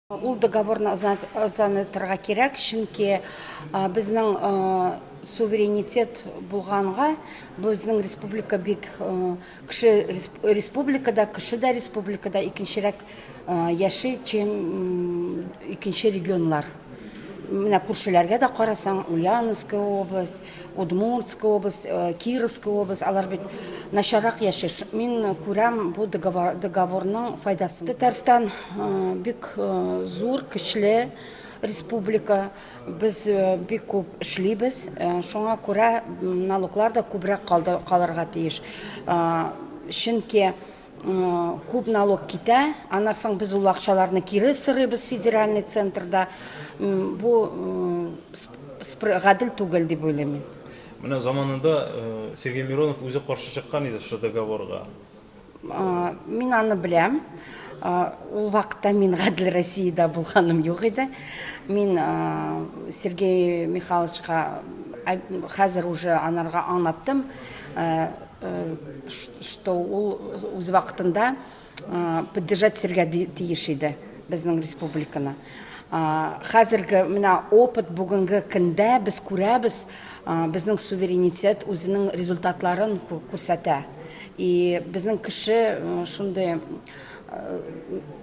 Ул договорны озанытырга кирәк, чөнки безнең суверенитет булганга, безнең республика бик кеше республикада, кеше дә республикада икенчерәк яши, чем икенче регионнар. Менә күршеләргә дә карасаң, Ульяновская область, Удмуртская область, э, Кировская область, алар бит начаррак яши. Ш- Мин э, күрәм бу договор, договорның файдасын. Татарстан э, бик э, зур, көчле республика. Без э, бик күп эшлибез. Э, Шуңа күрә м, налоглар да күбрәк калды- калырга тиеш. Э, Чөнки Күп налог китә, аннан соң без ул акчаларны кире сырыйбыз федеральный центрда. Бу гадел түгел дип уйлыйм мин. Менә заманында Сергей Миронов үзе каршы чыккан иде шушы договорга. Мин аны беләм. Ул вакытта мин Гадел Россиядә булганым юк иде. Мин Сергей Михайловичка хәзер уже анарга аңлаттым. что ул үз вакытында поддержать итәргә тиеш иде безнең республиканы. Хәзерге менә опыт бүгенге көндә без күрәбез, безнең суверенитет үзенең результатларын күрсәтә. И безнең кеше шундый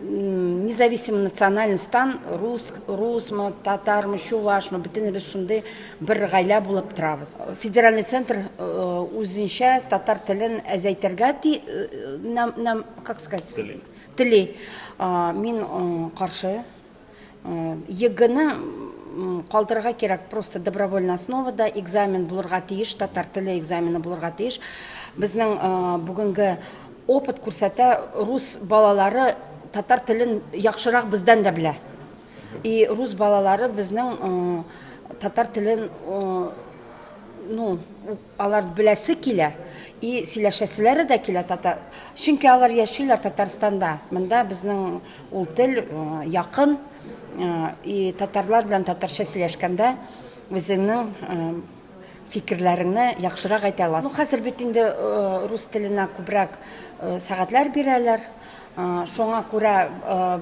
независимый национальностьтан рус, русмы, татармы, чувашмы, бөтенебез шундый бер гаилә булып торабыз. Федеральный центр э, үзенчә татар телен әзәйтергә ти, э, нам, нам, как сказать, тели. Тели. Мин э, каршы. ЕГЭны калдырырга кирәк, просто добровольный основада экзамен булырга тиеш, татар теле экзамены булырга тиеш. Безнең бүгенге опыт күрсәтә, рус балалары татар телен яхшырак бездән дә белә. И рус балалары безнең татар телен ну, Алар беләсе килә и сөйләшәселәре дә килә татар, чөнки алар яшиләр Татарстанда, монда безнең ул тел якын и татарлар белән татарча сөйләшкәндә үзеңнең фикерләреңне яхшырак әйтә аласың. Ну хәзер бит инде рус теленә күбрәк сәгатьләр бирәләр. Шуңа күрә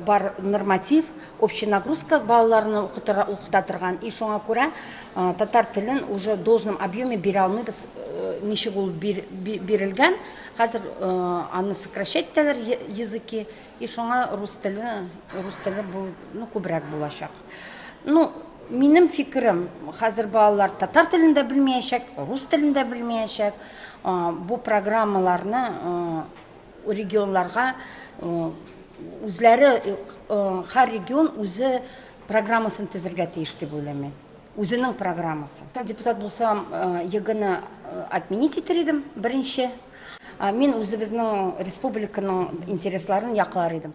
бар норматив общий нагрузка балаларны укыта торган и шуңа күрә татар телен уже в должном объеме бирә алмыйбыз. Ничек ул бирелгән, хәзер аны сокращать итәләр языки и шуңа рус теле, рус теле бу ну күбрәк булачак. Ну минем фикерем, хәзер балалар татар телен дә белмиячәк, рус телен дә белмиячәк. Бу программаларны Регионларга үзләре, һәр регион үзе программасын төзергә тиеш дип уйлыйм мин. Үзенең программасын. Депутат булсам, ЕГЭны отменить итер идем, беренче. Мин үзебезнең республиканың интересларын яклар идем.